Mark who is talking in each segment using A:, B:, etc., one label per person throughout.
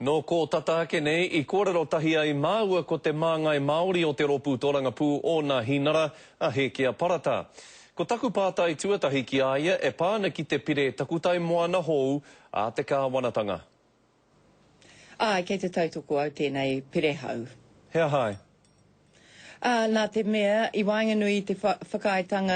A: Nō kō tata ake nei i kōrero tahi ai māua ko te māngai Māori o te Rōpū Tōrangapū ōna hinara a Hēkia Parata. Ko taku pātai tuatahi ki a ia e pā ana ki te pire takutai moana hōu a te kāwanatanga.
B: Āe, kei te tautoko au tēnei pire hau. He aha ai?
A: Ā,
B: nā te mea, i waenganui i te whakaaetanga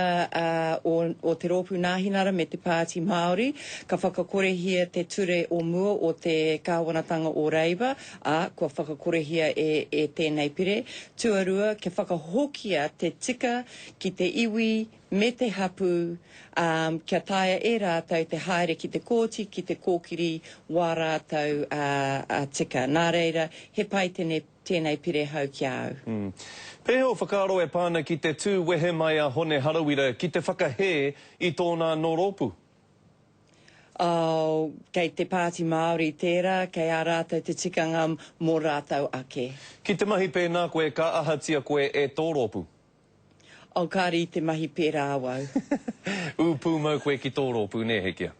B: o te Rōpū Nāhinara me te Pāti Māori, ka whakakorehia te ture o mua o te Kāwanatanga o Reiwa, ā, kua whakakorehia e tēnei pire. Tuarua, kia whakahokia te tika ki te iwi me te hapū, ā, kia taea e rātou te haere ki te kōti ki te kōkiri wā rātou tika. Nā reira, he pai tēnei. tēnei pire hau ki a au. Hm. Pēhea ō whakaaro
A: e pā ana ki te tū wehe mai a Hone Harawira ki te whakahē i tōna anō rōpū?
B: Oh, kei te Pāti Māori tērā, kei a rātou te tikanga mō rātou ake. Ki te mahi pēnā
A: koe ka ahatia koe e tō rōpū? Oh,
B: kāre i te mahi pērā awau. Ū
A: pūmau koe ki tō rōpū, nē, Hekia?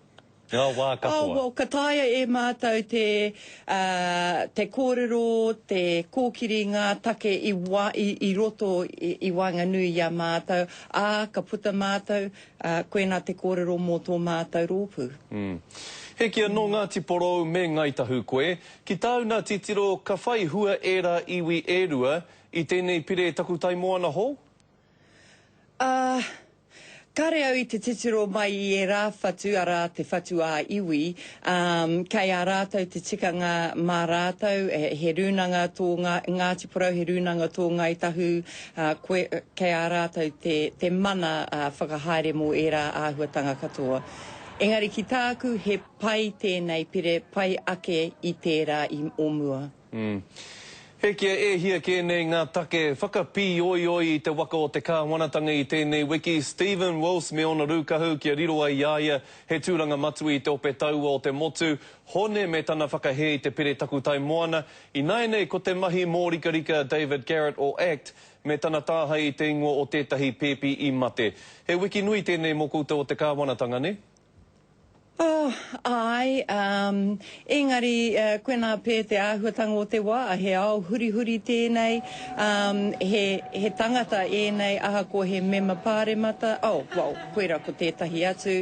A: Ngā wā katoa. Oh, well, ka taea e
B: mātou te, uh, te kōrero, te kōkiri ngā take i wā, i, i roto i, i waenganui i a mātou, ā, ka puta mātou, uh, koinā te kōrero mō tō mātou rōpū. Mm. Hekia,
A: nō Ngāti Porou me Ngāi Tahu koe. Ki tāu nā titiro, ka whai hua ērā iwi e rua, I tēnei pire takutai moana hou? Ā,
B: kāre au i te titiro mai i ērā whatu, arā, te whatu ā-iwi, ā, kei a rātou te tikanga mā rātou, he rūnanga tō Ngāti Porou, he rūnanga tō Ngāi Tahu, ā, koe, kei a rātou te, te mana whakahaere mō ērā āhuatanga katoa. Engari ki tāku, he pai tēnei pire, pai ake i tērā i o mua. Umm.
A: He kia e hia kē nei ngā take whakapīoioi i te waka o te Kāwanatanga i tēnei wiki, Stephen Wills me ōna rūkahu kia riro ai i a ia he tūranga matua i te ope taua o te motu, Hone me tana whakahē i te pire takutai moana. Ināianei ko te mahi mōrikarika a David Garrett o act me tana tāhae i te ingoa o tētahi pēpi i mate. He wiki nui tēnei mō koutou o te Kāwanatanga, nē? Oh, āe,
B: umm, engari, eh, koinā pē te āhuatanga o te wā, he ao hurihuri tēnei, umm, he, he tangata ēnei ahakoa he mema pāremata, oh, well, koirā ko tētahi atu,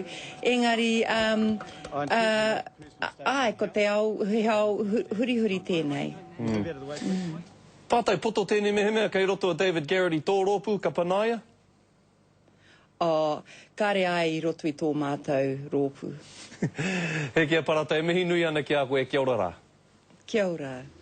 B: engari, umm, uh, āe, ko te ao, he ao hurihuri tēnei. Umm.
A: Tātou poto tēnei mehemea kei roto a David Garrett i tō rōpū, ka panaia? Oh,
B: kare ai i roto i tō mātou rōpū.
A: He Kia
B: Parata,
A: e mihi nui ana ki
B: a
A: koe, kia ora rā. Kia ora.